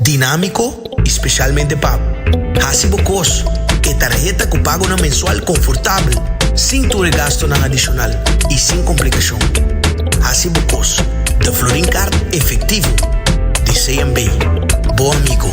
dinámiko i spesialmente pa hasi bo kos ku e tarheta ku pagonan mensual konfortabel, sin tur e gastunan adishonal i sin komplikashon. Hasi bo kos den Florin Kart efektivo di CMB, bo amigo.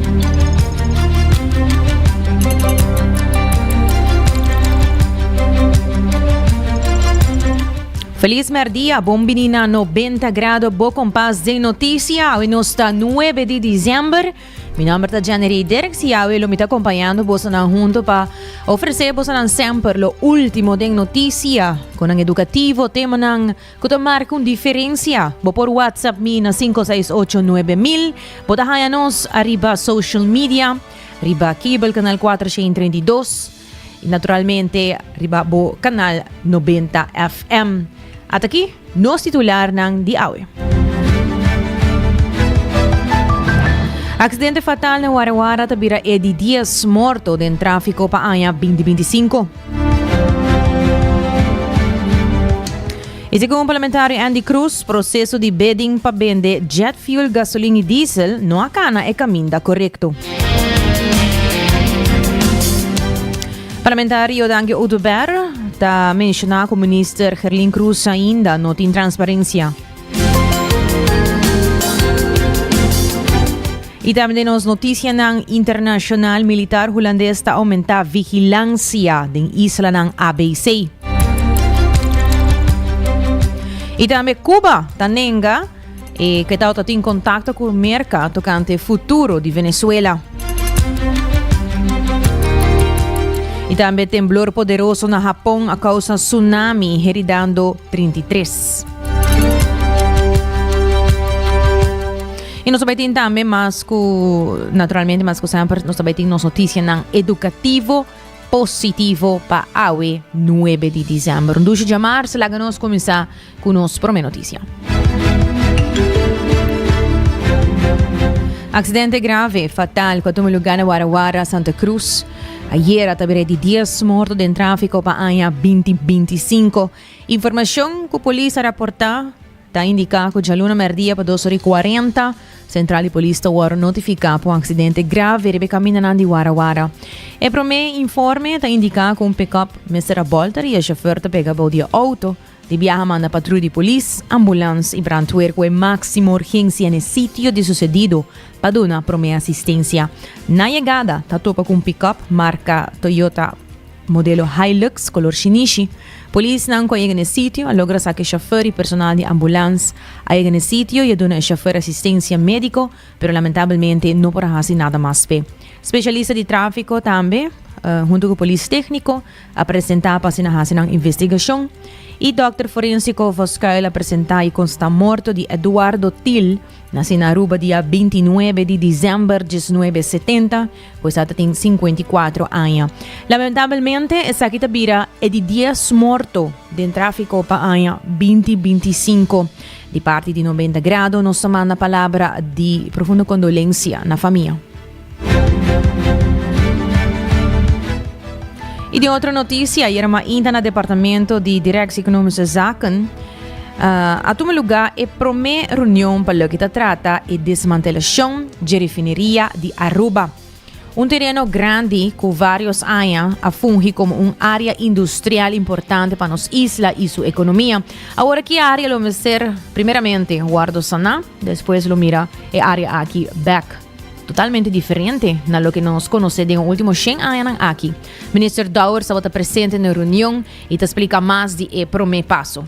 Feliz merdia, bon bini na 90 grado bo kompas den noticia. Awe nos ta 9 di diciember. Mi nomber ta Janery Dirks y awe lo mi ta acompañando bosa nan junto pa ofrece bosa nan semper lo último den noticia. Konan educativo, temanan Cu ta marca un diferencia? Bo por WhatsApp mi na cinco seis ocho nuebe mil. Bo ta haña nos ariba social media, riba cable canal cuatro sheen treinta y dos y naturalmente riba bo canal noventa FM. At aki nos titularnan di awe. Accidente fatal na Wara Wara ta bira Eddy Diaz morto den trafico pa aña binti binti cinco. Y segun Parlamentario Andy Cruz, proceso di bidding pa bende jet fuel, gasolin y diesel no a cana e caminda corecto. Parlamentario Danke Oduber ta menciona cu Minister Gerlin Cruz ainda no tin transparencia. Y tambe den nos noticianan internacional, militar Hulandes ta aumenta vigilancia den islanan ABC. Y tambe Cuba ta nenga e que tau ta tin contacto cu Merca tocante futuro di Venezuela. Y tambe temblor poderoso na Japón a causa tsunami heridando 33. Y nos tabay tin también más cu, naturalmente más cu siempre, nos tabay tin nos noticia nan educativo positivo pa awe 9 de diciembre. Un dushi jamar, se laga nos comenzar cu nos prome noticia. Accidente grave, fatal, cu tome lugar na Wara Wara, Santa Cruz. Ayer a tabere di 10 morto den tráfico pa aña 2025. Informashon ku polis a raportá ta indiká ku djaluna mèrdia pa dos ora i kuarenta, sentral di polis ta wòrdu notifiká pa un aksidente grave riba e kamindanan di Wara Wara. E promé informe ta indiká ku un pick-up mester a bòlta i e shofèr ta pega bou di e outo. Di biaha manda patrui di polis, ambulans i brandweer ku e máksimo urgensia n'e sitio di susedido pa duna promé asistensia. Na yegada ta topa ku un pick-up marka Toyota. Modelo Hilux color shinishi. Polisnan cu a yega na e sitio a logra saca e chauffeur y personal di ambulance a yega na e sitio y a duna e chauffeur asistencia medico, pero lamentablemente no por a haci nada mas p'e. Specialista di trafico tambe, hunto cu polis tecnico, a presenta pa asina haci nan investigacion. Y dokter forensico for scuil a presenta y consta morto di Eduardo Thill, naci na Aruba dia bintinuebe di december diesnuebe setenta, Pues a ta tin sinkuenta i kuatro aña. Lamentabelmente esaki ta bira e di dies morto den tráfiko pa aña binti binti i sinku. Di parti di Noventa Grado nos ta manda palabra di profundo kondolensia na famia. I den otro notisia, ayera mainta na Departamento di Directie Economische Zaken, Uh, a tuma lugar e promé reunion pa lo que ta trata e desmantelacion de refineria di Aruba. Un terreno grande cu varios años a fungi como un área industrial importante para nos isla y su economía. Ahora que área lo mester primeramente guardo sana, después lo mira e área aquí back totalmente diferente na lo que nos conoce den último 100 años aquí. Minister Douwer estaba presente na reunión I ta splika mas di e promé paso.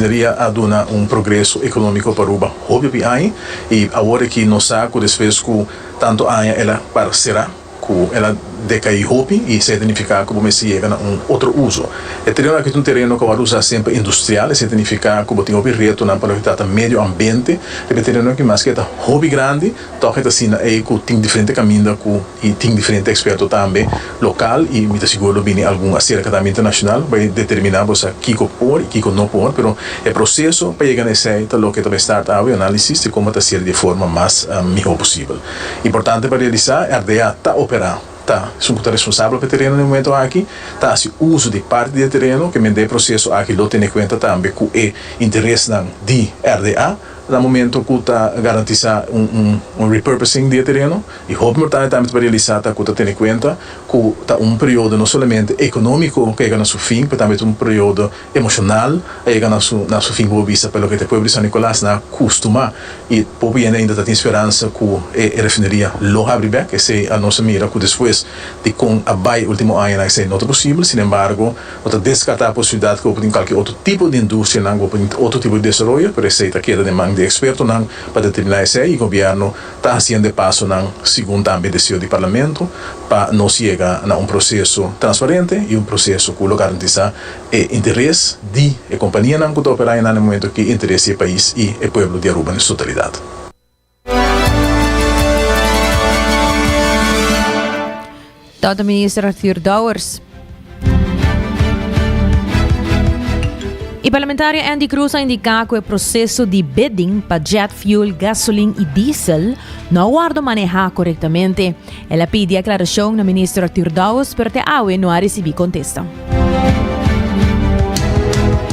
Mineria a duna un progreso economico pa Aruba hopi hopi aña, y awor aki nos sa cu despues cu tanto aña el a para cera, ku el a dekaí hopi i esei ta nifiká ku bo mester yega na un otro uso. E tereno aki ta un tereno ku a wòrdu usá siempre pa industrial, esei ta nifiká ku bo tin hopi retonan pa loke ta ta medio ambiente. Riba e tereno aki, maske e ta hopi grandi, tòg e ta asina ei ku tin diferente kaminda ku i tin diferente eksperto tambe lokal i mi ta sigur lo bini algun aserka tambe internashonal pa e determiná bo sa kiko por i kiko no por. Pero e proseso pa yega na esei ta loke ta bai start awe, análisis di komo ta hase'l di e forma mas mihó posibel. Importante pa realisá, RDA ta operá, ta esun ku ta responsabel pa e tereno den momentu aki, ta hasi uso di parti di e tereno, ke mende e proseso aki lo tene kuenta tambe ku e interesnan di RDA na momentu ku ta garantisá un repurposing di e tereno. I hopi importante tambe pa realisá ta ku ta tene kuenta ku ta un periodo no solamente ekonómiko ku yega na su fin pero tambe ta un periodo emocional a yega na su na su fin bo bisa pa loke ta e pueblo di San Nicolas na acustumá y poco hende ainda ta tin speransa cu e e refineria lo habri bek esey a nos a mira cu despues di con a bay e ultimo añanan esey no ta posible sin embargo no ta descarta posibilidad cu lo por tin cualkier otro tipo di industrianan cu lo por tin otro tipo di desaroyo pero esey ta keda den man di expertonan pa determina esey y gobierno ta haciendo e pasonan segun tambe deseo di Parlamento pa nos yega na un proceso transparente y un proceso cu lo garantiza e interes di e companianan cu ta opera aye na e momento aki, interes di e pais y e pueblo di Aruba na su totalidad. Tata Minister Arthur Dowers. E parlamentario Andy Cruz a indica cu e proceso di bidding pa jet fuel, gasoline y diesel no a wordo maneha corectamente. El a pidi aclaracion na Minister Arthur Dowers pero te awe no a recibi contesta.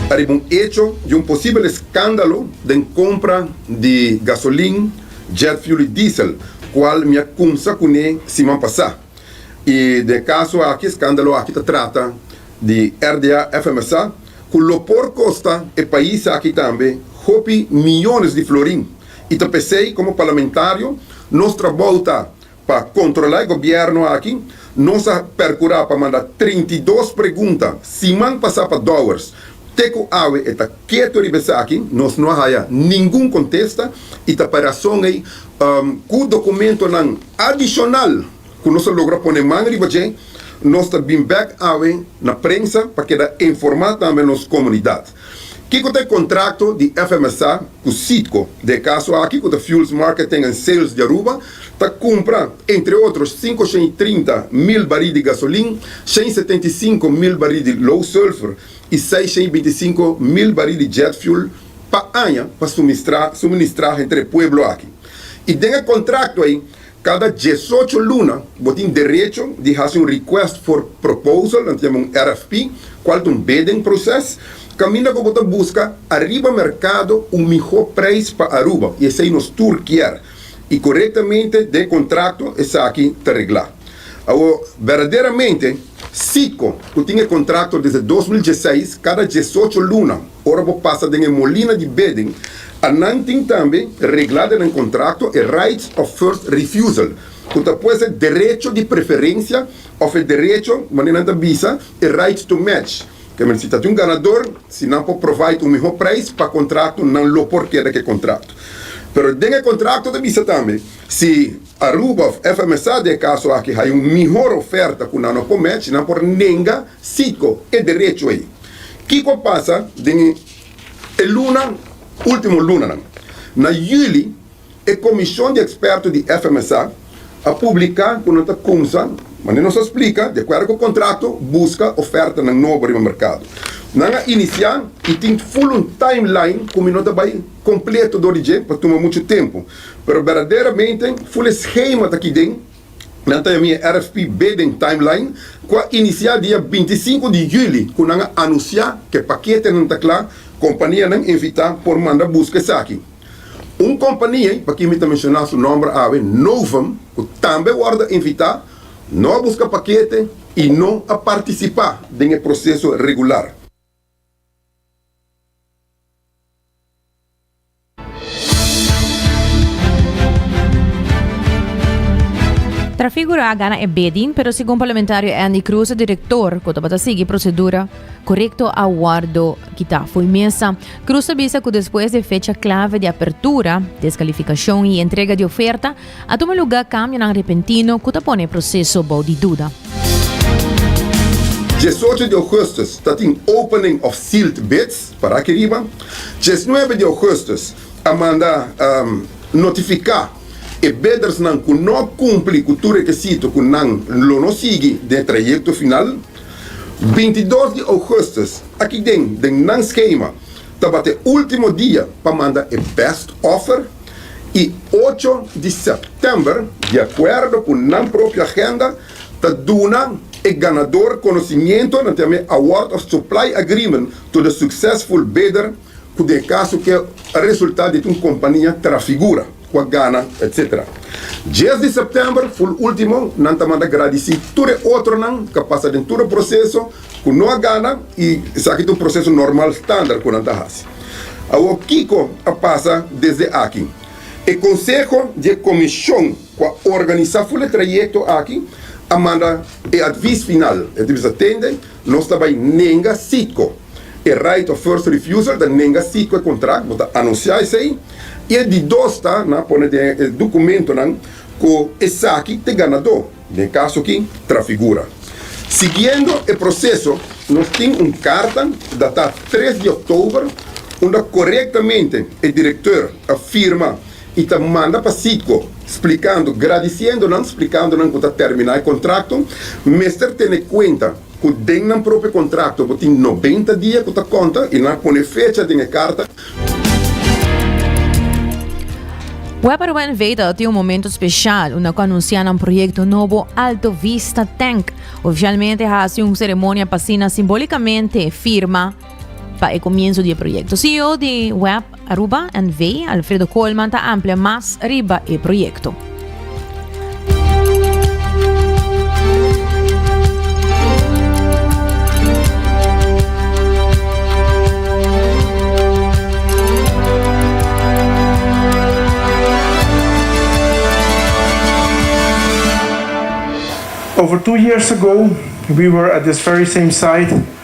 Ariba un hecho di un posibel escándalo den compra di gasolin, Jet fuel y diesel cual mi a cumsa cu ne siman pasa. Y den e caso aki, e scandalo aki ta trata di RDA FMSA cu lo por costa e pais aki tambe hopi millones di florin. Y ta pesey como parlamentario nos trabou ta Pa kontrolá e gobièrnu aki, nos a perkurá pa manda trinta i dos pregunta siman pasá pa Dowers. Te ku awe e ta ketu riba esaki, nos no a haya ningun kontesta i ta pa rason ei ku dokumentonan adishonal ku nos a logra pone man riba dje, nos ta bin bèk awe na prensa pa keda informá tambe nos komunidat. Kiko ta e kontrakto di FMSA ku Citgo? Den e kaso aki ku ta Fuels Marketing and Sales di Aruba ta kumpra, entre otro, sinku shen i trinta mil barit di gasolin, shen i setenta i sinku mil barit di low sulfur i seis shen i binti i sinku mil barit di jet fuel pa aña pa suministrá entre e pueblo aki. I den e kontrakto ei, Kada diesocho luna bo tin derecho di hasi un Request for Proposal, nan ta yama un RFP, kual ta un bidding proses, kaminda ku bo ta buska ariba merkado un mihó preis pa Aruba, i esei nos tur kier, i korektamente den kontrakto esaki ta reglá. Awo, berdaderamente, Citgo, ku tin e kontrakto desde dos mil dieseis, kada diesocho luna Ora bo pasa den e molina di bidding, a nan tin tambe reglá den nan kontrakto e rights of first refusal, ku ta pues e derecho di preferensia òf e derecho, manera nan ta bisa, e right to match, ke men si ta tin un ganador, si nan por provide un mihó prijs pa kontrakto, nan lo por keda ku e kontrakto. Pero den e kontrakto ta bisa tambe, si Aruba òf FMSA den e kaso aki haya un mihor oferta ku nan no por match, nan por nenga, Sico, e derecho ei. Kico pasa den e luna, ultimo lunanan? Na juli, e comision di experto di FMSA a publica cu nan ta cumsa, manera nos a splica, di acuerdo cu contrato, busca ofertanan nobo riba mercado. Nan a inicia y tin full un timeline cu mi no ta bay completo dor di dje, pa tuma mucho tempo. Pero berdaderamente, full e schema ta aki den. Nan ta envia e RFPB den timeline ku a inisiá dia binti i sinku di yüli ku nan a anunsiá ku e pakete nan ta kla. Kompanianan invitá por manda buska esaki. Un kompania, pa ki mi ta menshoná su nòmber awe, Novum, ku tambe wòrdu invitá, no a buska pakete i no a partisipá den e proseso regular. Trafigura a gana e beding, pero segun parlamentario Andy Cruz, e director cu tabata sigui procedura corecto a wordo kita fo'i mesa. Cruz a bisa cu despues di e fecha clave di apertura, descalificacion y entrega di oferta, a tuma lugar cambionan repentino cu ta pone e proceso bou di duda. Diesocho di Augustus ta tin opening of sealed bids Para aki riba, diesnuebe di ougustus a manda notifiká e bidersnan ku no kumpli ku tur rekisito ku nan lo no sigui den e trayekto final. Bintidos di ougustus aki den den nan skema tabata e último dia pa manda e bèst òfer i ocho di sèptèmber di akuerdo ku nan propio agenda ta duna e ganador konosimiento nan te amé award of supply agreement to the successful bidder ku den e kaso ke a resulta di un kompania Trafigura ku a gana etc. Dies di September ful ultimo nan ta manda gradisi tur e otronan ka pasa den tur e proseso ku no a gana i esaki ta un proseso normal standard ku nan ta hasi awor kiko a pasa desde aki e konseho di e komishon ku a organisá ful e trayekto aki a manda e atvis final. E atvis ta tende, Nos ta bai nenga Citgo e right of first refusal, ta nenga Citgo e kontrakt, bo ta anunsiá esei. I e di dos ta, nan a pone den e dokumentonan ku esaki ta e ganadó, den e kaso aki Trafigura. Siguiendo e proseso, nos tin un karta datá tres di òktober unda korektamente e direktor a firma i ta manda pa Citgo splikando gradisiendo nan splikando nan ku ta terminá e kontrakto mester tene kuenta ku den nan propio kontrakto bo tin nobenta dia ku ta konta i nan a pone fecha den e karta Webberwen Veta tin un momento special unda cu anuncia nan proyecto nobo Alto Vista Tank. Oficialmente hasi un ceremonia pa sina simbólicamente firma pa e comienzo di e proyecto. CEO di Web Aruba NV, Alfredo Coleman, ta amplia mas riba e proyecto. Over two years ago, we were at this very same site,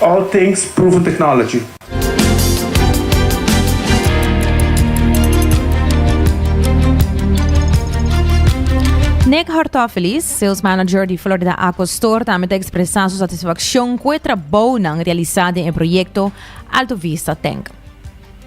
All things proven technology. Nick Hortofelis, sales manager di Florida Aqua Store, tambe ta ekspresá su satisfakshon ku e trabounan realisá den e proyekto Alto Vista Tank.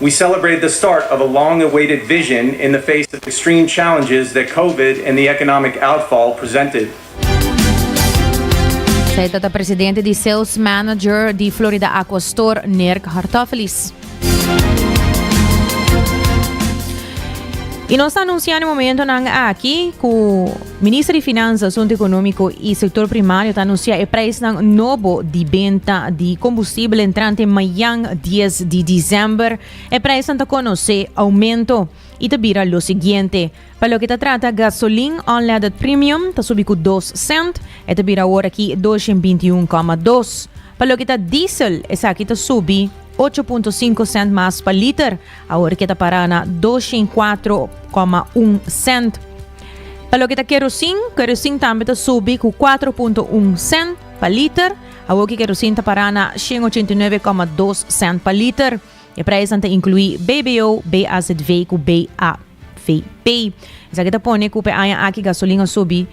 We celebrate the start of a long-awaited vision in the face of extreme challenges that Covid and the economic outfall presented. Esei ta ta presidente di sales manager di Florida Aqua Store, Nirk Hartofelis. Y nos ta anuncia na momentonan aki cu. Minister di Finansa, Asuntu Ekonómiko i Sektor Primario ta anunsiá e preisnan nobo di benta di kombustibel entrante mañan dies di disember. E preisnan ta konosé oumento i ta bira lo siguiente, Pa loke ta trata gasolin unleaded premium ta subi ku dos sènt, e ta bira awor aki dos shen binti i un koma dos. Pa loke ta diesel esaki ta subi ocho punto sinku sènt mas pa liter. Awor ke ta para na dos shin kuatro koma un sènt. Pa loke ta kerosin, kerosin tambe ta subi ku kuatro punto un sènt pa liter. Awor ke kerosin ta para na shin ochenta i nuebe koma dos sènt pa liter. E preisnan ta inkluí BBO, BAZV ku BAVP. Esaki ta pone ku p'e aña aki gasolin a subi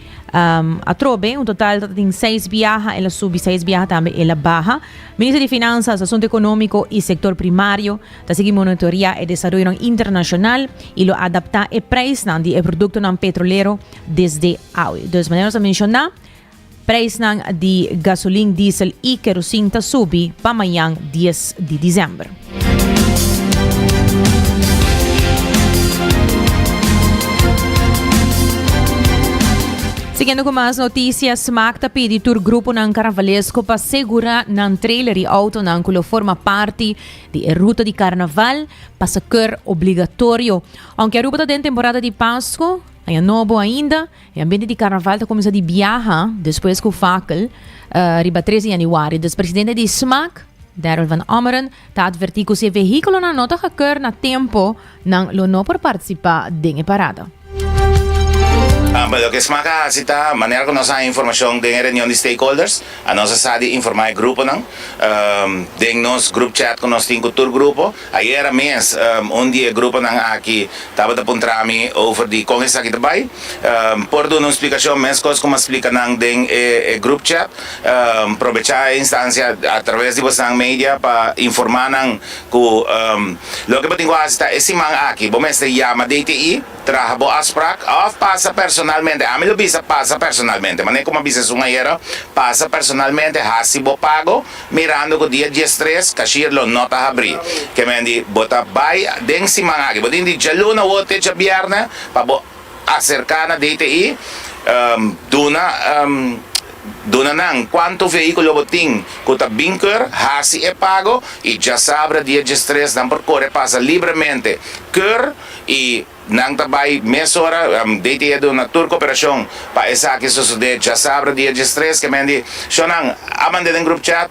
atrobe. Un total ta tin seis biaha, el a subi, seis biaha tambe el a baha. Minister di Finansas, Asuntu Ekonómiko i Sektor Primario, Ta sigui monitorea e desaroyonan internashonal i lo adaptá e preisnan di e produktonan petrolero desde awe. Dus manera nos a menshoná, preisnan di gasolin, diesel i kerosin ta subi pa mañan dies di desèmber. Siguiendo cu mas noticias, Smaak ta pidi tur gruponan carnavalesko pa segura nan trailer y autonan cu lo forma parti di e ruta di Karnaval pa sakër obligatorio. Ounke Aruba ta den temporada di Pasku, aña nobo ainda, e ambiente di Karnaval ta kuminsá di biaha despues ku fakel riba tres di yanüari. Dus presidente di SMAK, Darrel Van Ommeren, ta atvertí ku si e vehíkulonan no ta hakër na tempo, Nan lo no por partisipá den e parada. Amba loke e sma ta hasi ta, manera ku nos a haña informashon den e reunion di stakeholders, a nos a sa di informá e gruponan den nos group chat ku nos tin ku tur grupo. Ayera mes un di e gruponan aki tabata puntra mi over di kon esaki ta bai. Por duna un splikashon meskos ku mi a splika nan den e group chat, probechá e instancia a traves di bosan media pa informá nan Cu loke bo tin cu haci ta e siman aki bo mester yama DTI, traha bo afspraak of pasa personalmente. Ami lo bisa pasa personalmente, manera como a bisa esun ayera, pasa personalmente, haci bo pago mirando cu dia diestres cashier lo no ta habri. Kemendi bo ta bay den siman aki, bo tin di djaluna wor te djabierne pa bo acerca na DTI, duna. Duna nan cuanto vehiculo bo tin cu ta bin keur, haci e pago y dja sabra di e djistresnan por core pasa libremente, keur y nan ta bay mesora, DTE a duna tur cooperacion pa esaki sosode, dja sabra di e djistres, kemendi, Shonnan, a mande den group chat.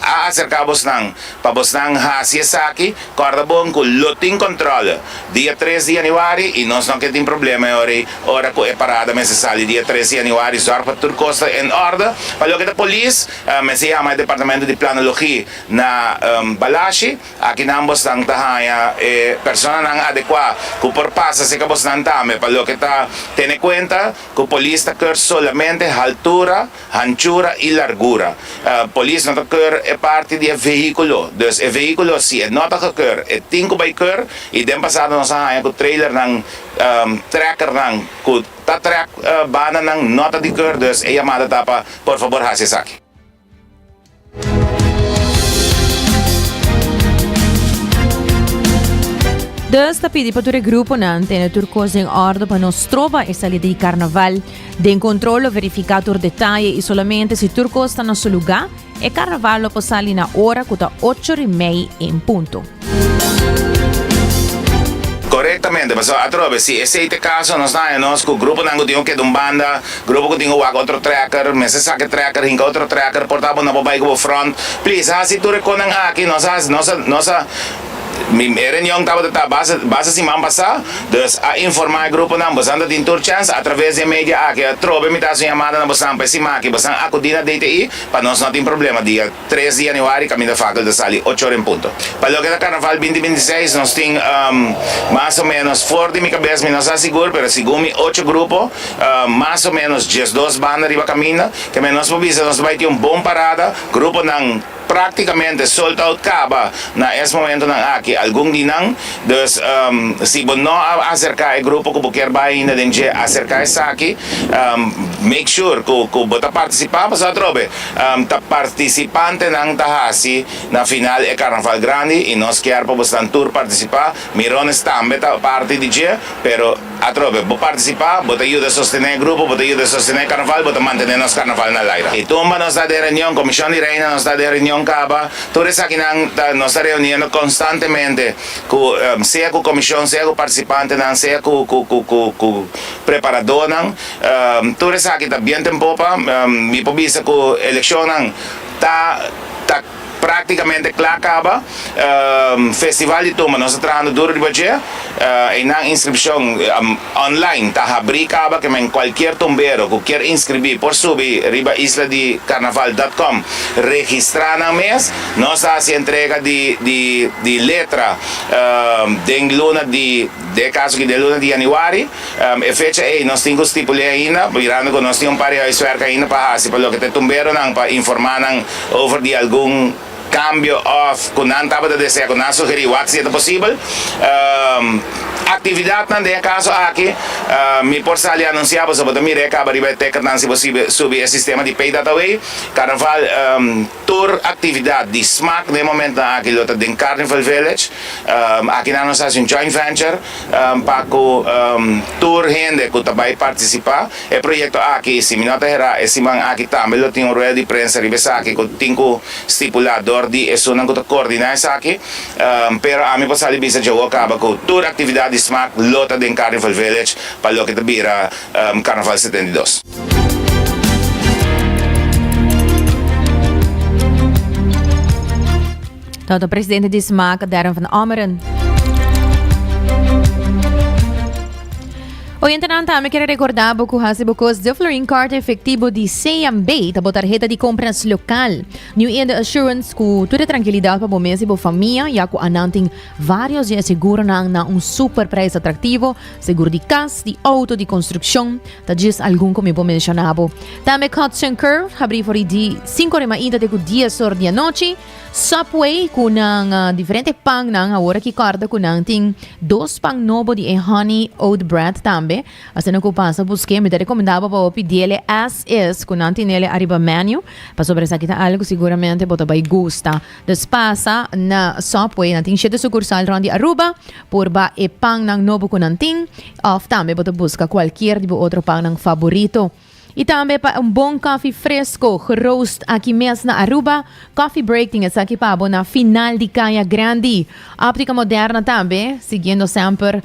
A aserká bosnan pa bosnan hasi esaki. Kòrda bon ku lo tin kòntròl dia tres di yanüari i nos no ke tin problema e ora ei. Ora ku e parada mester sali dia tres di yanüari, zòrg pa tur kos ta en òrda. Pa loke ta polis, mester yama e departamento di planologí na Balashi. Aki nan bosnan ta haña e personanan adekuá ku por pasa serka bosnan tambe. Pa loke ta tene kuenta ku polis ta kè solamente haltura hanchura i largura. Polis no ta keur e parti di e vehíkulo, dus e vehíkulo si e no ta gekeur e tin ku bai keur i den pasado nos a haña ku trailernan, trekernan ku ta trek bandanan no ta di keur, dus e yamada ta pa por fabor hasi esaki. Dus ta pidi pa tur e gruponan tene tur kos den òrdu pa no stroba e salida di karnaval. Den kontrol lo verifiká tur detaye i solamente si tur kos ta na su lugá, e karnaval lo por sali na ora ku ta ocho ri mei en punto. Correctamente, pasobra atrobe si esey ta e caso nos ta haña nos cu gruponan cu tin cu keda un banda, grupo cu tin cu wak otro trekker, mester saki trekker, hinca otro trekker, por tabatin no por bay cu bo front. Please haci tur e conan aki, nos a, nos a, nos a, e reunion tabata ta basa, basa siman pasa, dus a informa e gruponan, bosan ta tin tur chance atraves di e media aki, atrobe mi ta haci un yamada na bosan pa e sima aki, bosan acudi na DTI pa nos no tin problema dia. Tres di Januari kaminda fakel ta sali ocho ora en punto. Pa loke ta Karnaval binti binti seis nos tin mas o menos for di mi kabes mi no sa sigur pero segun mi ocho grupo mas o menos diesdos banda riba kaminda keme nos por bisa nos ta bai tin un bon parada gruponan praktikamente sold out kaba na es momentonan aki algun di nan dus si bo no a aserka e grupo ku bo kier bai ainda den dje aserka esaki make sure ku ku bo ta partisipa pasá atrobe. Ta participantenan ta haci na final e Carnaval Grandi y nos kier pa bo esnan tur participa. Mirones tambe ta parti di dje, pero atrobe bo participa, bo ta yuda sostene e grupo, bo ta yuda sostene e Carnaval, bo ta mantene nos Carnaval na laira. Y tumba nos ta den reunion, Comision di Reina, nos ta den reunion caba, tur esakinan ta, nos ta reuniendo constantemente cu sea cu comision, sea cu participantenan, sea cu preparadornan. Tur esaki ta bien den popa. Mi por bisa cu eleccionnan ta ta practicamente cla caba. Festival di Tumba nos ta trahando duro riba dje. Eynan inscripcion online ta habri caba. Ke men cualkier tumbero cu kier inscribi por subi riba isladicarnaval.com registra nan mes. Nos ta haci entrega di di di letra den luna di dé caso aki den luna di januari. E fecha ei nos tin ku stipul'é ainda, mirando ku nos tin un par di huiswerk ainda pa hasi pa loke ta tumberonan pa informá nan over di algun kambio òf ku nan tabata desea ku nan sugerí wak si e ta posibel. Aktividatnan den e kaso aki mi por sali a anunsiá boso, bo ta mira e kaba riba e tekentnan si bo subi e sistema di paydataway, karnaval. Tur actividad di smaak den e momentnan aki lo ta den Carnival Village. Akinan nos haci un joint venture pa cu tur hende cu ta bay participa. E proyecto aki, si mi no ta hera, e siman aki tambe lo tin un rueda di prensa riba esaki cu tin cu stipula door di esunnan cu ta coordina esaki. Pero ami por sali bisa dje awo caba cu tur actividad di smaak lo ta den Carnival Village pa loke ta bira Carnaval setenta i dos. Tanto presidente di SMAC, Darren van Ommeren. Hoy en Tenanta, también quiero recordar que hace bocos de Florin Card efectivo de CMB, tabo tarjeta de compras local. New in the assurance cu toda tranquilidad para mes y para familia, ya cu ananting varios de seguro na un super prijs atractivo, seguro de cas, de auto, de construcción. Ta djis algun cu mi por menciona bo. Tambe Cuts and Curves habri for e di cinco de mainta te cu dies or di anochi. Subway cu nan diferente pannan awor aki corda cu nan tin dos pan nobo di e Honey Oat Bread tambe. Asina cu pasa busque mi ta recomenda bo pa bo pidiele as is cu nan tinele ariba menu. Pasobra esaki ta algo seguramente bo ta bay gusta. Nos pasa na Subway, nan tin shete sukursal rond di Aruba, por ba e pannan nobo ku nan tin, òf tambe bo ta buska kualkier di bo otro pannan faborito. I tambe pa un bon kòfi fresko, geroast aki mes na Aruba, Coffee Break tin esaki pa bo na final di Kaya Grandi. Optica Moderna tambe, siguiendo semper,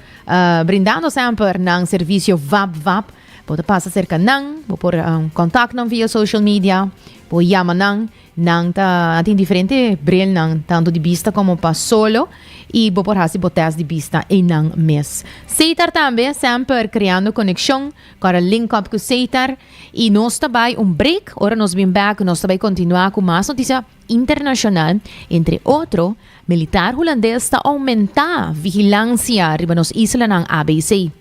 brindando semper nan servisio vap vap. Bo ta pasa serka nan, bo por kontak nan via social media, bo yama nan, Nan ta tin diferente brilnan tantu di bista komo pa solo i bo por hasi bo tèst di bista einan mes. Seitar tambe semper kreando konekshon kòrda link up ku Seitar i nos ta bai un break ora nos bin bèk nos ta bai kontinuá ku mas notisia internashonal entre otro militar hulandes ta oumentá vigilansia riba nos islanan abc.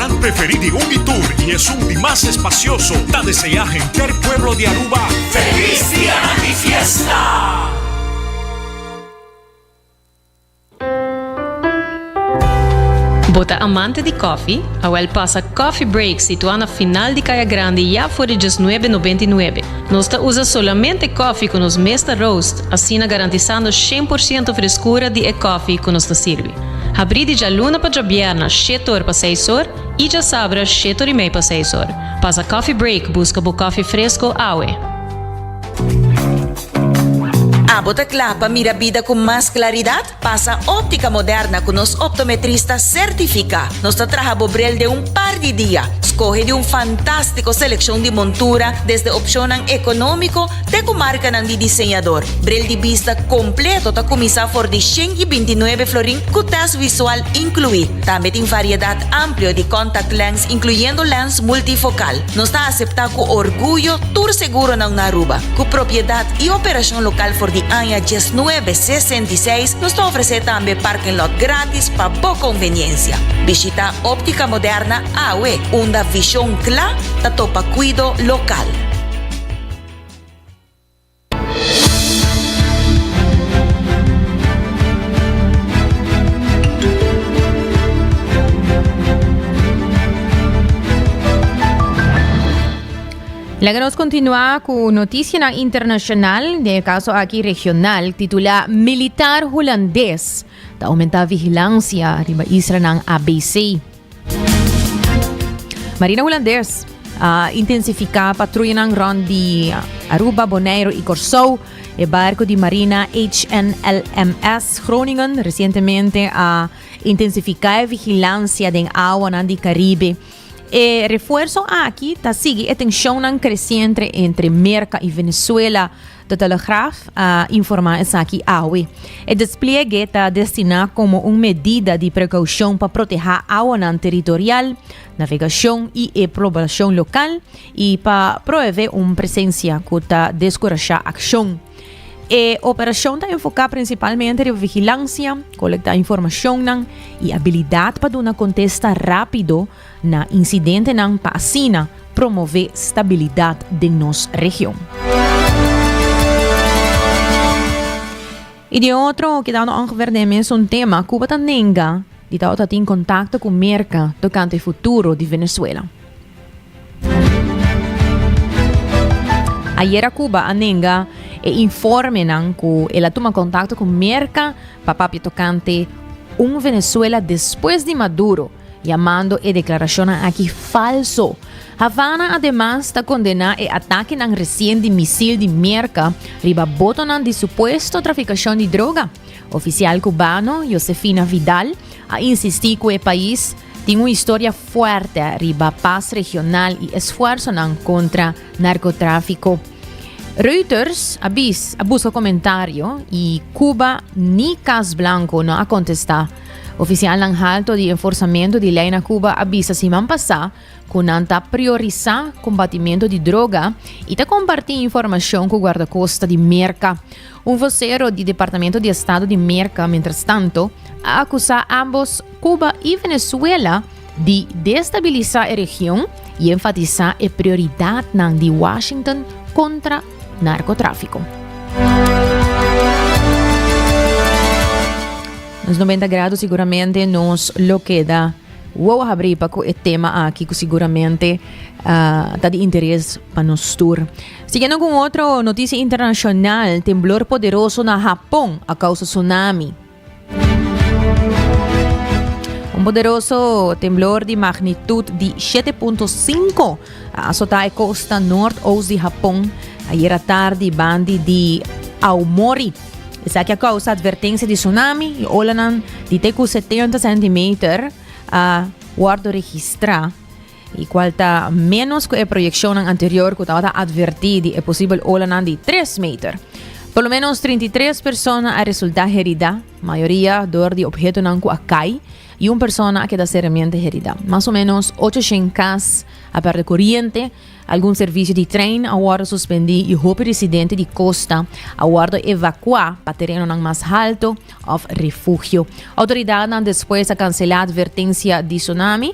Nan preferí di Ruby Tour y esun di mas espacioso ta deseá henter pueblo di Aruba Feliz Dianan di Fiesta! Bo ta amante di kòfi? Awèl pasa Coffee Break situá na final di Kaya Grandi ya for di djes nuebe nobenta i nuebe. Nos ta usa solamente kòfi ku nos mes ta roast, asina garantisando shen por siento freskura di e kòfi ku nos ta sirbi. Habrí di djaluna pa djabierna shete or pa seis or i djasabra shete or i mei pa seis or. Pasa coffee break buska bo koffie fresko awe. Abo ta kla pa mira bida ku mas klaridat? Pasa Óptica Moderna ku nos optometrista sertifiká. Nos ta traha bo brel den un par di dia. Skohe di un fantástiko selekshon di montura desde opshonnan ekonómiko, Te ku markanan di diseñador. Bril di bista kompleto ta kuminsá for di shen i binti nuebe florin ku tèst visual inkluí. Tambe tin variedat amplio di contact lens inkluyendo lens multifokal. Nos ta aseptá ku orguyo tur seguronan na Aruba. Ku propiedat i operashon lokal for di aña diesnuebe sesenta i seis, nos ta ofresé tambe parking lot gratis pa bo konveniensia. Bishitá Óptica Moderna awe, unda vishon kla ta topa kuido lokal. Laga nos continua cu noticianan internacional, den e caso aki regional, titula Militar Hulandes ta aumenta vigilancia riba islanan ABC. Marina Hulandes a intensifica patruyanan rond di Aruba, Bonaire y Corsou. E barco di marina HNLMS Groningen recientemente a intensifica e vigilancia den awanan di Caribe. E refuerzo aki ta sigui e tensionnan creciente entre Merca y Venezuela De Telegraaf a informá esaki awe. E despliege ta destiná komo un medida di prekoushon pa protehá awanan teritorial, navegashon i e poblashon lokal i pa proevé un presensia ku ta deskurashá akshon. E operashon ta enfoká prinsipalmente riba vigilansia, kolektá informashonnan i abilidat pa duna kontesta rápido, na insidentenan pa asina promové stabilidat den nos region. I di otro kidando òngever den e mesun tema, Cuba ta nenga di ta ota tin kontakto ku Merka tokante futuro di Venezuela. Ayera Cuba a nenga e informenan ku el a tuma kontakto ku Merka pa papia tokante un Venezuela despues di Maduro yamando e declaracionnan aki falso. Havana ademas ta condena e atakenan recien di misil di mierca riba botonan di supuesto traficacion di droga. Oficial Cubano Josefina Vidal a insisti cu e pais tin un historia fuerte riba pas regional y esfuerzonan contra narcotrafico. Reuters a busca comentario y Cuba ni Cas Blanco no a contesta Ofisialnan halto di enforsamentu di lei na Cuba a bisa siman pasá cu nan ta priorisá combatimentu di droga y ta compartí informacion cu Guardacosta di Merca. Un vocero di Departamento di Estado di Merca, mientras tanto, a acusá ambos Cuba y Venezuela di destabilisá e region y enfatisá e prioridadnan di Washington contra narkotráfiko. Nos noventa grado seguramente nos lo queda wow habri pa cu e tema aki cu seguramente uh, ta di interés pa nos tour. Siguiendo con otro noticia internacional, temblor poderoso na Japón a causa tsunami. Un poderoso temblor di magnitud di 7.5 a azotá e costa noord-oost di Japón ayer a tarde bandi di Aomori. Esaki a causa advertencia di tsunami y olanan di te cu 70 centimeter a wordo registra. y cual ta menos cu e proyeccionnan anterior cu tabata adverti di e posibel olanan di tres meter. Por lo menos 33 personas a resulta herida, mayoria door di obhetonan cu a cai, y un persona a keda seriamente herida. Mas o menos 800 cas a perde coriente, algun servicio di trein a wordo suspendi y hopi residente di costa a wordo evacua pa terenonan mas halto of refugio. Autoridadnan despues a cancela advertencia di tsunami,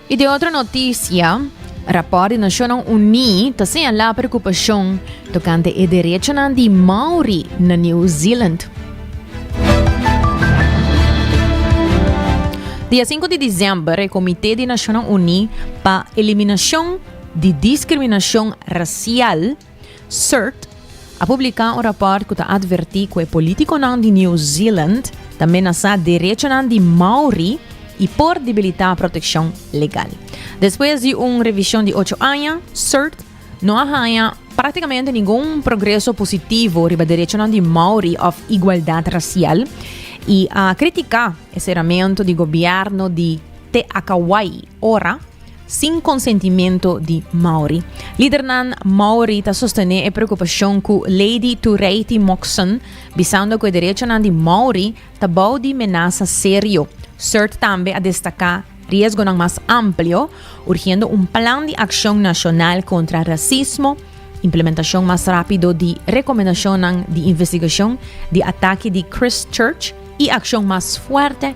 I den otro notisia, rapòrt di Nashonnan Uní ta señalá preokupashon tokante e derechonan di Maori na New Zealand. Dia sinku di disember, e Komité di Nashonnan Uní pa Eliminashon di Diskriminashon Rasial, CERT, a publiká un rapòrt ku ta atvertí ku e polítikonan di New Zealand ta menasá derechonan di Maori i por debilitá protekshon legal. Despues di un revishon di ocho aña, CERT no a haña práktikamente ningun progreso positivo riba derechonan di Maori òf igualdat rasial i a kritiká e seramentu di gobièrnu di Te Akawai ora Sin konsentimento di Maori. Lidernan Maori ta sostené e preokupashon ku Lady Tureiti Moxon, bisando ku e derechonan di Maori ta bou di menasa serio. Surt tambe a destaká riesgonan mas amplio, urgiendo un plan di akshon nashonal kontra rasismo, implementashon mas rápido di rekomendashonnan di investigashon di atake di Christchurch i akshon mas fuerte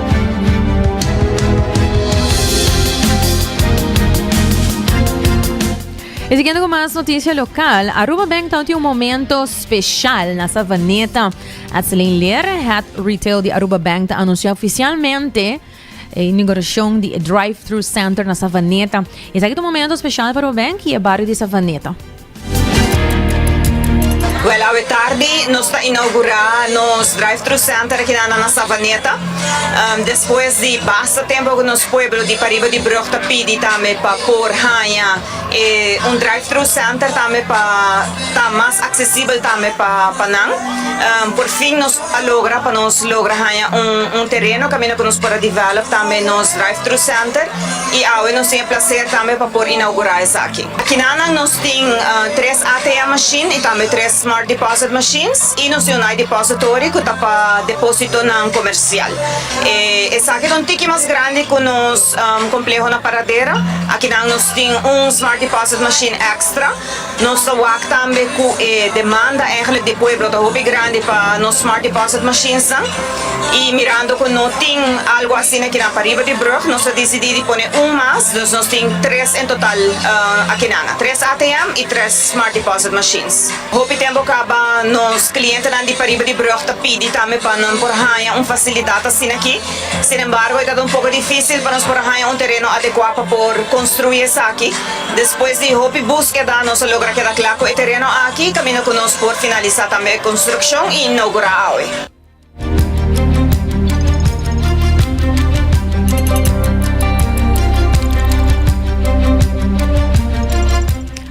E siguiendo con más noticia local, Aruba Bank ta un momento special na Savaneta. Atselin Leer, Head Retail di Aruba Bank, ta anuncia oficialmente eh, inauguración de Drive-Thru Center na Savaneta. Es aquí un momento especial para Aruba Bank y el barrio de Savaneta. Wel awe tardi nos ta inaugurá nos drive-thru center aki nan na Savaneta. Despues di basta tempu ku nos pueblo di pariba di brug ta pidi tambe pa por haña e un drive-thru center tambe pa ta mas aksesibel tambe pa nan. Por fin nos. a logra pa nos logra haña un tereno kaminda ku nos por a develop tambe nos drive thru center i awe nos tin e plaser tambe pa por inaugura esaki. Akinanan nos tin tres ATM machine i tambe tres smart deposit machines i nos tin un night depository ku ta pa depositonan komersial. Esaki ta un tiki mas grandi ku nos kompleho na Paradera. Akinan nos tin un smart deposit machine extra. Nos ta wak tambe cu e demanda eigenlijk di pueblo ta hopi grandi pa nos smart deposit mashinesnan y mirando cu no tin algo asina kinan pariba di brug nos a dicidi di pone un mas, dus nos tin tres en total akinan, tres ATM y tres smart deposit machines. Hopi tempo caba nos clientenan di pariba di brug ta pidi tambe pa nan por haya un facilidad asina aki. Sin embargo, e ta ta un poco dificil pa nos por haña un tereno adecua pa por construi esaki. Despues di hopi busqueda, nos a logra keda cla cu e tereno aki camino cu nos por finalisa tambe e construccion y inaugura awe.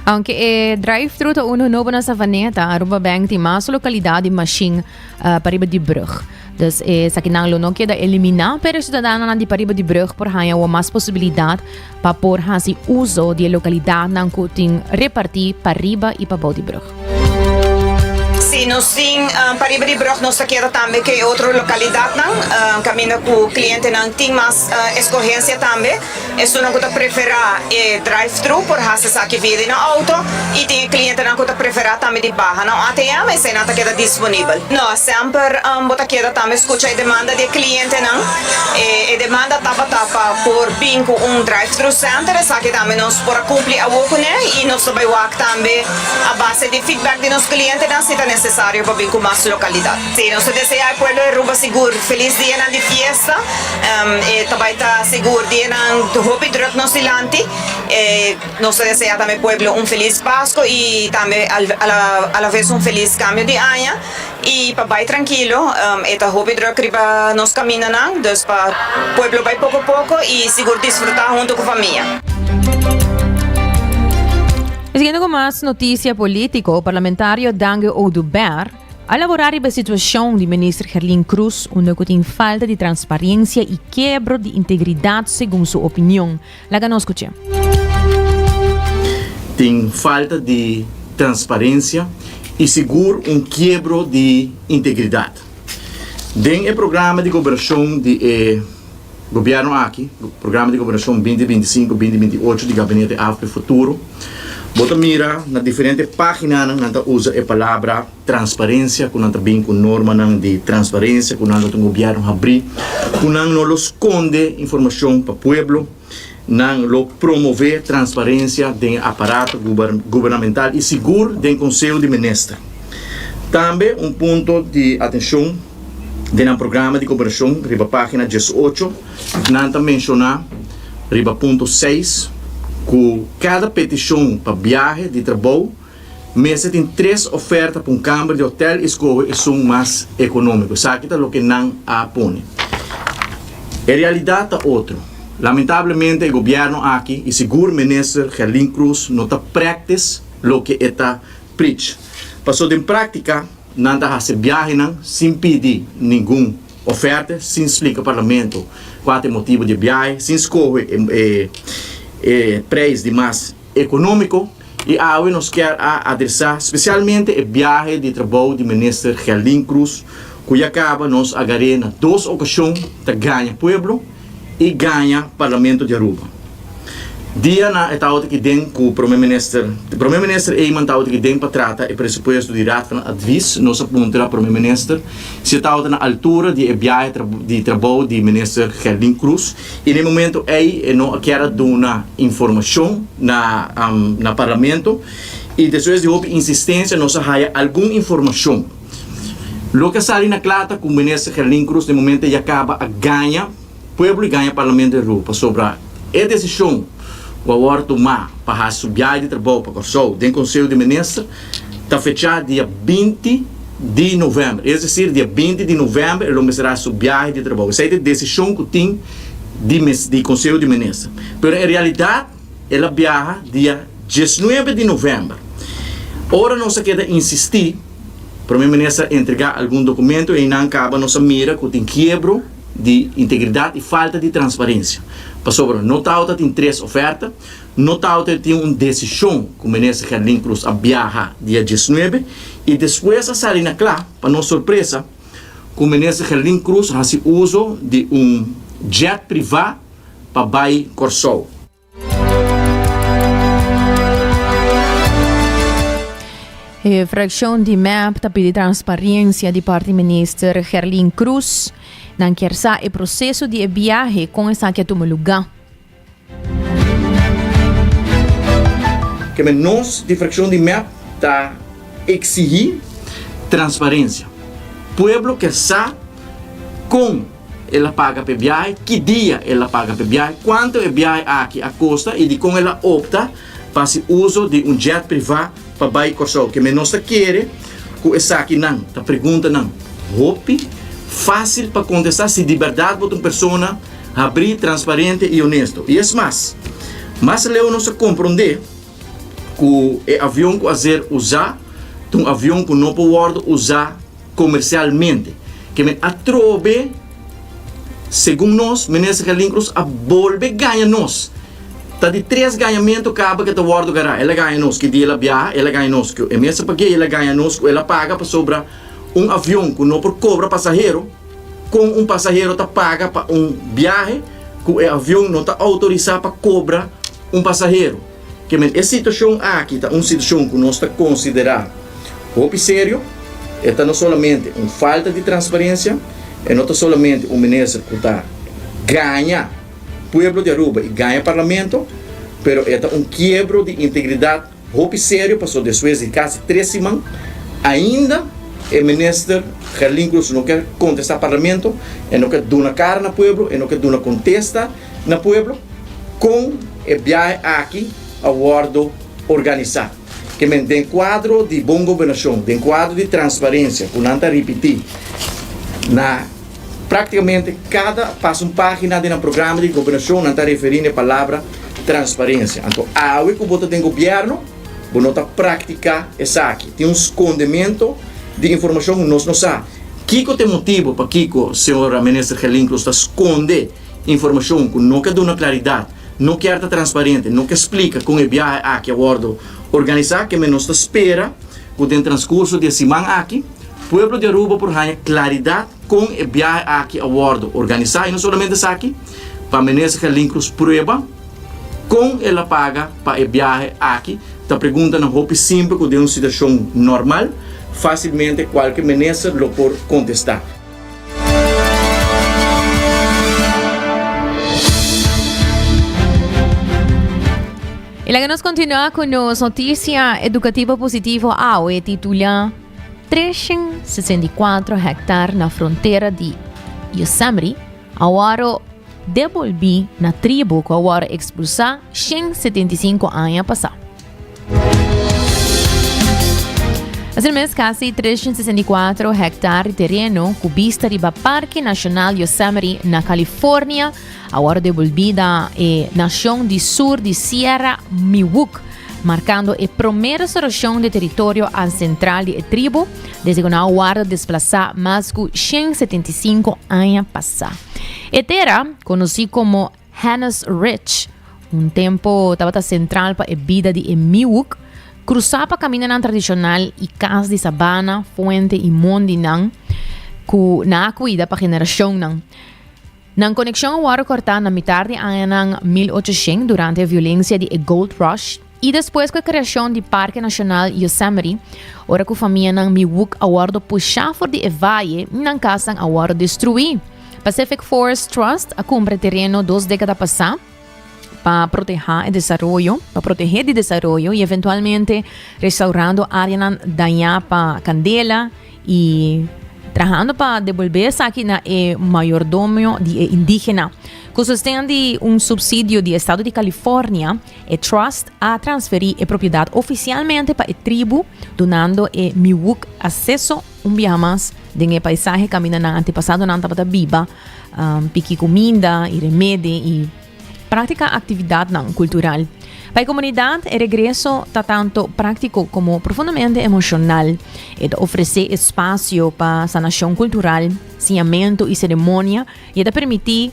Aunke e drive-thru ta unu nobo na Savaneta, Aruba Bank tin mas localidad di machine uh, pariba di brug. Dus esaki nan lo no keda eliminá, pero ciudadanonan di pariba di brug por haya o mas posibilidad pa por hasi uso di e localidadnan cu tin repartí pariba y pa bou di brug. Si nos tin uh, pariba di brug nos ta keda tambe ke otro localidadnan, uh, caminda cu clientenan tin mas uh, escogencia tambe. Esunnan ku ta preferá e drive-thru por hasi esaki via di nan outo i tin e klientenan ku ta preferá tambe di baha na un ATM i eseinan ta keda disponibel. No semper bo ta keda tambe skucha e demanda di e klientenan. E demanda tabata pa por bin ku un drive-thru senter, esaki tambe nos por a kumpli awor kuné i nos ta bai wak tambe a base di feedback di nos klientenan si ta nesesario pa bin ku mas lokalidat. Sí, nos ta desea e pueblo di Aruba sigur feliz dianan di fiesta. Um, e ta bai ta sigur dianan hopi druk nos dilanti. E nos ta desea tambe e pueblo un feliz Pasco y tambe al, a la, a la vez un feliz cambio di aña. Y pa bai trankilo, um, e ta hopi druk riba nos kamindanan, dus pa pueblo bai poko poko y sigur disfruta hunto cu famia. Siguiendo cu mas noticia politico, Parlamentario Dange Oduber, A laborá riba e situashon di Minister Herlin Cruz unda ku tin falta di transparensia i kebro di integridat segun su opinion. Laga nos kuch'é. Tin falta di transparensia i sigur un kiebro di integridat. Den e programa di goberashon di e. Gobierno aki, Programa di Gobernacion binti binti sinku, binti binti ocho di Gabinete AFP Futuro, bo ta mira na diferente paginanan nan ta usa e palabra transparencia cu nan ta bin cu normanan di transparencia cu nan ta un gobierno habri cu nan no lo sconde informacion pa pueblo. nan lo promové transparensia den e aparato gubernamental i sigur den Konseo di Minister. Tambe un punto di atenshon den nan programa di koperashon riba página diesocho nan ta menshoná riba punto seis ku kada petishon pa biahe di trabou Mester tin tres oferta pa un kamber di hotèl i skohe esun mas ekonómiko. Esaki ta loke nan a pone. E realidat ta otro. Lamentablemente e gobièrnu aki i sigur Minister Gerlin Croes no ta prèktis loke e ta prich. Paso den práktika nan ta hasi biahenan sin pidi ningun oferte, sin splika parlamento kua ta e motibu di e biahe, sin skohe e preis di mas Economico y awe nos kier a adresa specialmente e biahe di trabou di Minister Gerlin Cruz cu ya caba, nos a gar'e na dos ocasion ta gaña pueblo y gaña Parlamento di Aruba. Dia na e tabataki den cu Prome Minister, Prome Minister Eman tabataki den pa trata e presupuesto di Raad van Advies, nos a puntra Prome Minister si e tabata na altura di e biahe di trabou di Minister Gerlin Cruz, I na e momento ei e no a kier a duna informashon na na parlamento i despues di hopi insistensia nos a haya algun informashon. Loke a sali na kla ta ku Minister Gerlin Cruz na e momento ei a kaba a gaña pueblo i gaña Parlamento di Aruba pasobra e desishon ku a wòrdu tumá pa hasi su biaha di trabou pa Kòrsou den Konseo di Minister ta fechá dia binti di novèmber. Es desir, dia binti di novèmber e lo mester hasi su biahe di trabou. Esei ta e desishon ku tin di mes di Konseho di Minister. Pero en realidat el a biaha dia dies nuebe di novèmber. Ora nos a keda insistí, Prome Minister a entregá algun dokumento einan kaba nos a mira ku tin kiebro di integridat i falta di transparensia. Pasobra no tabatin tres ofèrta. No ta aut'e tin un desishon ku Minister Gerlin Cruz a biaha dia diesnuebe i despues a sali na kla, pa nos sorpresa, ku Minister Gerlin Cruz hasi uso di un jet privá pa bai Kòrsou. E frakshon di mep ta pidi transparensia di parti Minister Gerlin Cruz. Nan kier sa e proseso di e biahe kon esaki a tuma lugá. Kende nos di frakshon di mep ta eksigí transparensia. Pueblo ker sa kon el a paga p'e biahe, ki dia el a paga p'e biahe, kuantu e biahe aki a kosta i dikon el a opta pa hasi uso di un jet privá pa bai Kòrsou. Kende nos ta kere ku esakinan ta preguntanan hopi fásil pa kontestá si di bèrdat bo ta un persona habrí, transparente i onesto. I es mas, mas leu nos a komprondé ku e avion ku a ser usá ta un avion ku no por wòrdu usá komersialmente. Ke men atrobe, segun nos, Minister Gelin Cruz a bolbe gaña nos. Ta di tres gañamentu kaba ke ta wòrdu gará. El a gaña nos ki di el a biaha, el a gaña nos ku e mes a pag'é i el a gaña nos ku el a paga pasobra un avion ku no por kobra pasahero, Kon un pasahero ta paga pa un biahe ku e avion no ta outorisá pa kobra un pasahero? Kimen e situashon aki ta un situashon ku nos ta konsiderá hopi serio. E ta no solamente un falta di transparensia, e no ta solamente un minister ku ta gaña pueblo di Aruba i gaña parlamento, pero e ta un kiebro di integridat Hopi serio pasobra despues di casi tres siman ainda e minister Gerlin Cruz no ke contesta Parlamento, e no ke duna cara na pueblo, e no ke duna contesta na pueblo con e biahe aki a wordo organisa. Ke men den cuadro di bon gobernacion, den cuadro di transparencia cu nan ta ripiti na. Práktikamente kada pasun página den nan programa di gobernashon nan ta referí n'e palabra transparensia. Anto awe ku bo ta den gobièrnu bo no ta praktiká esaki. Tin un skondementu di informashon ku nos no sa. Kiko ta e motibu pakiko señora Minister Gelin Cruz ta skonde informashon ku no ke duna klaridat, no kier ta transparente, no ke splika kon e biahe aki a wòrdu organisá? Kem'e nos ta spera ku den transkurso di e siman aki Pueblo di Aruba por haña claridad con e biahe aki a wordo organisa y no solamente esaki, pa Minister Gelin Cruz prueba con el a paga pa e biahe aki, ta preguntanan hopi simple cu den un situacion normal facilmente cualke Minister lo por contesta. Y laga nos continua cu nos noticia educativo positivo awe titula. 364 hektar na frontera di Yosemite a wòrdu debolbí na tribu ku a wòrdu ekspulsá 175 aña pasá. Asina mes, kasi 364 hektar di tereno ku bista riba Parke Nashonal Yosemite na California Awor devolbida e nashon di sur di Sierra Miwuk, markando e promé restaurashon di teritorio ansentral di e tribu desde ku nan a warda desplasá mas ku shen setenta i sinku aña pasá. E tera, konosí komo Hanna's Ridge, un tempu tabata sentral pa e bida di e Miwuk, krusá pa kamindanan tradishonal i kas di sabana, fuente i mon di nan ku nan a kuida pa generashonnan. Nan konekshon a wòrdu kòrtá na mitar di añanan mil ochoshen durante e violensia di e Gold Rush i despues ku e kreashon di Parke Nashonal Yosemite, ora ku famianan Miwook a wòrdu pushá for di e vaye i nan kasnan a wòrdu destruí. Pacific Forest Trust a kumpra e tereno dos dékada pasá, pa protehá e desaroyo, pa protehé di desaroyo y eventualmente restaurando áreanan dañá pa kandela y trahando pa devolbé esaki na e mayordomio di e indígena. Ku sosten di un subsidio di estado di California, e trust a transferí e propiedat ofisialmente pa e tribu, donando e Miwok aseso un biaha mas den e paisahe kaminda nan antepasadonan tabata biba, um, piki kuminda i remedi i práktika aktividatnan kultural. Pa e komunidat, e regreso ta tanto práktiko komo profundamente emoshonal. E ta ofresé espasio pa sanashon kultural, siñamentu i seremonia i e ta permití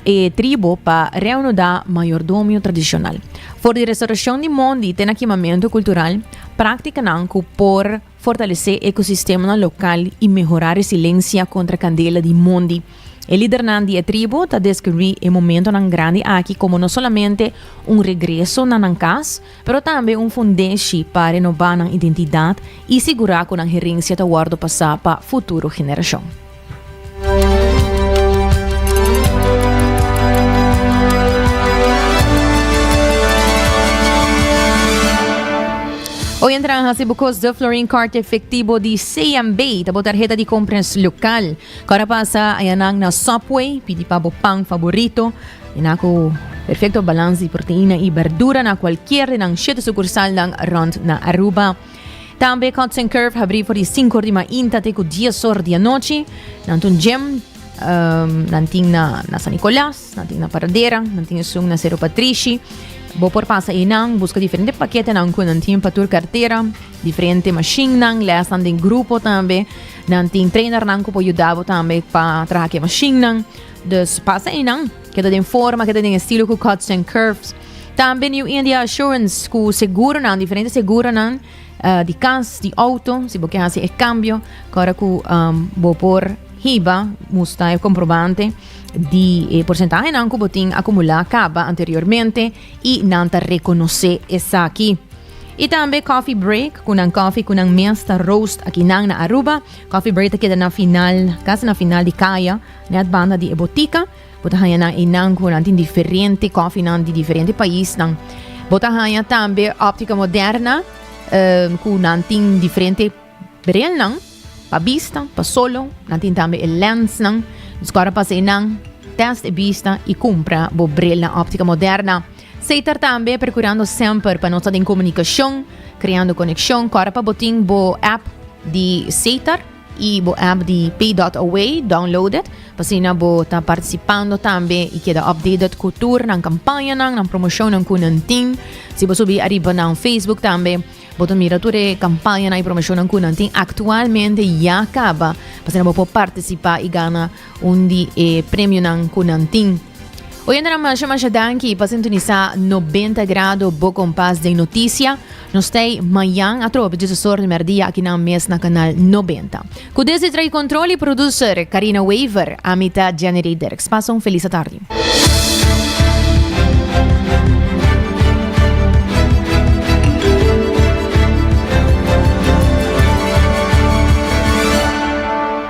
e tribu pa reanudá mayordomio tradishonal. For di restaurashon di mondi te na kimamentu kultural, práktikanan ku por Fortalesé ekosistemanan lokal i mehorá resilensha kontra kandela di mondi. E lidernan di e tribu ta deskribí e momentonan grandi aki komo no solamente un regreso na nan kas, pero tambe un fundeshi pa renobá nan identidat i sigurá ku nan herensha ta wòrdu pasá pa futuro generashon. Hoy entra en hasi bucos de Florin Card efectivo di CMB, tabo tarjeta di compras local. Cora pasa ayanan na Subway, pidi pa bo pan favorito, en acu perfecto balance di proteína y verdura na cualquier de nan siete sucursal nan rond na Aruba. Tambe Cuts and Curve habrí for di sinku or di mainta te ku dies or di anochi. Nan tun gym, um, nan tin na, na San Nicolas, nan tin na Paradera, nan tin esun na Cerro Patrici. Bo por pasa e nan, busca diferente paquete nan ku nan tin pa tur cartera, diferente machine nan, les nan den grupo tambe. Nan tin trainer nan ku po yudabo tambe pa traha ke machine nan. Dus pasa e nan, keda den forma, keda den estilo ku Cuts and Curves. Tambe New India Assurance ku seguronan, diferente seguronan uh, di kas, di auto, si bo ke hasi e cambio, kora ku um, bo por hiba, musta e comprobante di e porcentaje nan ku bo tin acumula kaba anteriormente i nan ta reconoce esaki. I tambe coffee break, kunan coffee kunan mes ta roast aki nan na Aruba. Coffee break ta keda na final, kas na final di kaya, net banda di e botica. Bo ta haña nan einan ku nan tin diferente kòfinan di diferente paisnan. Bo ta haña tambe òptika moderna um, ku nan tin diferente brilnan pa bista, pa solo. Nan tin tambe e lensnan. Dus kòrda pas einan, test e bista i kumpra bo brilnan òptika moderna. Seitar tambe prokurando semper pa no ta den komunikashon, kreando konekshon. Kòrda pa bo tin bo app di Seitar. y bo app di Pay Dot Away downloaded, pa asina bo ta participando tambe y keda updated cu tur nan campañanan, nan promocionnan cu nan tin. Si bo subi ariba nan Facebook tambe, bo ta mira tur e campañanan y promocionnan cu nan tin actualmente ya caba, pa asina bo por participa y gana un di e premionan cu nan tin. Oyentenan masha masha danki pa sintonisa 90 grado bo kompas den noticia. No stay mayan a trobe Jesus sor de merdia aki nan mes na kanal 90. Ku desi trai kontrol i producer Karina Weaver, ami ta Jenny Ray Dirks. Pasa un felis atardi.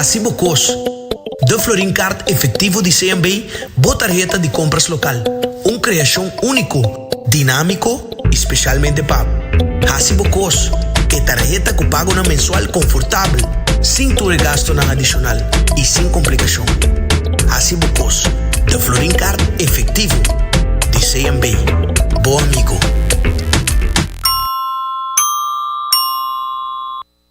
Hasi bo kos. Da Florin Kaart Efektivo di CMB bo tarheta di kompras lokal, un kreashon úniko, dinámiko i spesialmente pa Hasi bo kos, e tarheta ku pagonan mensual konfortabel, sin tur e gastunan adishonal i sin komplikashon. Hasi bo kos. Da Florin Kaart Efektivo di CMB, bo amigo.